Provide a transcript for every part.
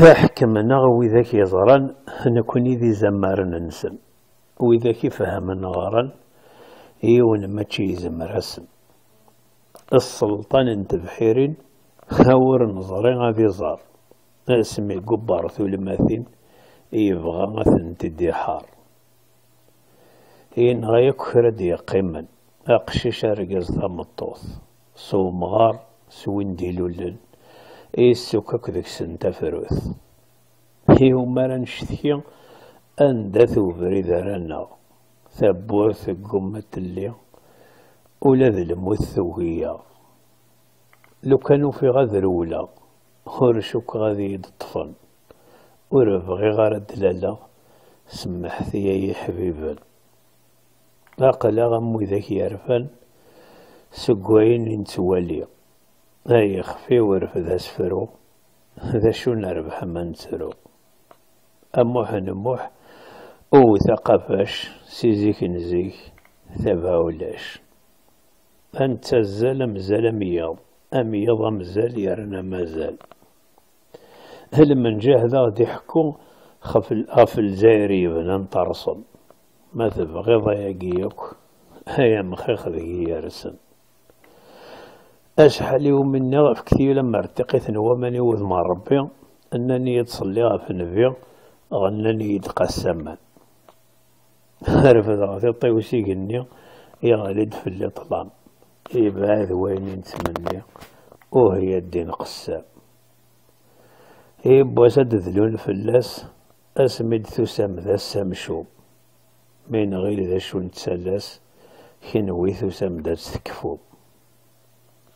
Taḥkem neɣ widak yeẓran nekni d izamaren-nsen, widak ifehmen ɣran, yiwen mačči izemmer-asen. Sselṭan n tebḥirin ur neẓri ad iẓer, asmi gubbar tulmatin yebɣa ad tent-id-iḥar. Yenɣa akk kra d-yeqqimen, aqcic, argaz, tameṭṭut, s umɣar, s win d-ilulen, yessukk akk deg-sen tafrut. Iwumi ara necetki, anda-t ubrid ara aneɣ? Tawwurt teggumma ad telli, ula d lmut tugi-yaɣ. Lukan ufiɣ ad rewleɣ, ur cukkeɣ ad iyi-d-ṭṭfen. Ur bɣiɣ ara ad d-laleɣ, semmeḥet-iyi ay iḥbiben. Aql-aɣ am widak yerfan seg wayen i nettwali. Ay ixef-iw rfed asefru, d acu nerbeḥ ma nettru? A Muḥ n Muḥ, wwet aqafac, si zik n zik, tabɛa ulac. A nettazzal am zzal am yiḍ, am yiḍ am zzal yerna mazal. Lmenǧaḥ d aɣ-d iḥekku ɣef Lezzayer i yebnan terṣel. Ma tebɣiḍ ayagi yakk, ay amxiq deg-i yersen. Acḥal i wumi nniɣ efket-iyi lemmer d tiqit n waman i wudem n Rebbi, nnan-iyi-d ṣelli ɣef nnbi, ɣennan-iyi-d qassaman. Refdeɣ tiṭ-iw s igenni, yeɣli-d fell-i ṭṭlam. Yebɛed wayen i nettmenni, uh ya ddin qessam. Yiwwas ad d-dlun fell-as, asmi d-tusam d ass amcum. Mi nɣil d acu nettalas, kenwi tusam-d ad tt-tekfum.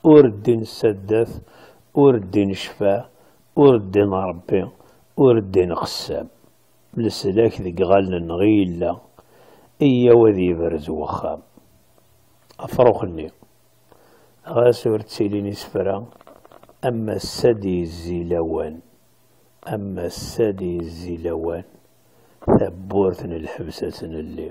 Ur ddin saddat, ur ddin ccfa, ur ddin Rebbi, ur ddin qessam. Leslak deg iɣallen-nneɣ i yella, iyyaw ad yebrez wexxam. Afrux-nni, ɣas ur ttilin isefra, am ass-a ad d-yezzi lawan, am ass-a ad d-yezzi lawan, tawwurt n lḥebs ad tt-nelli.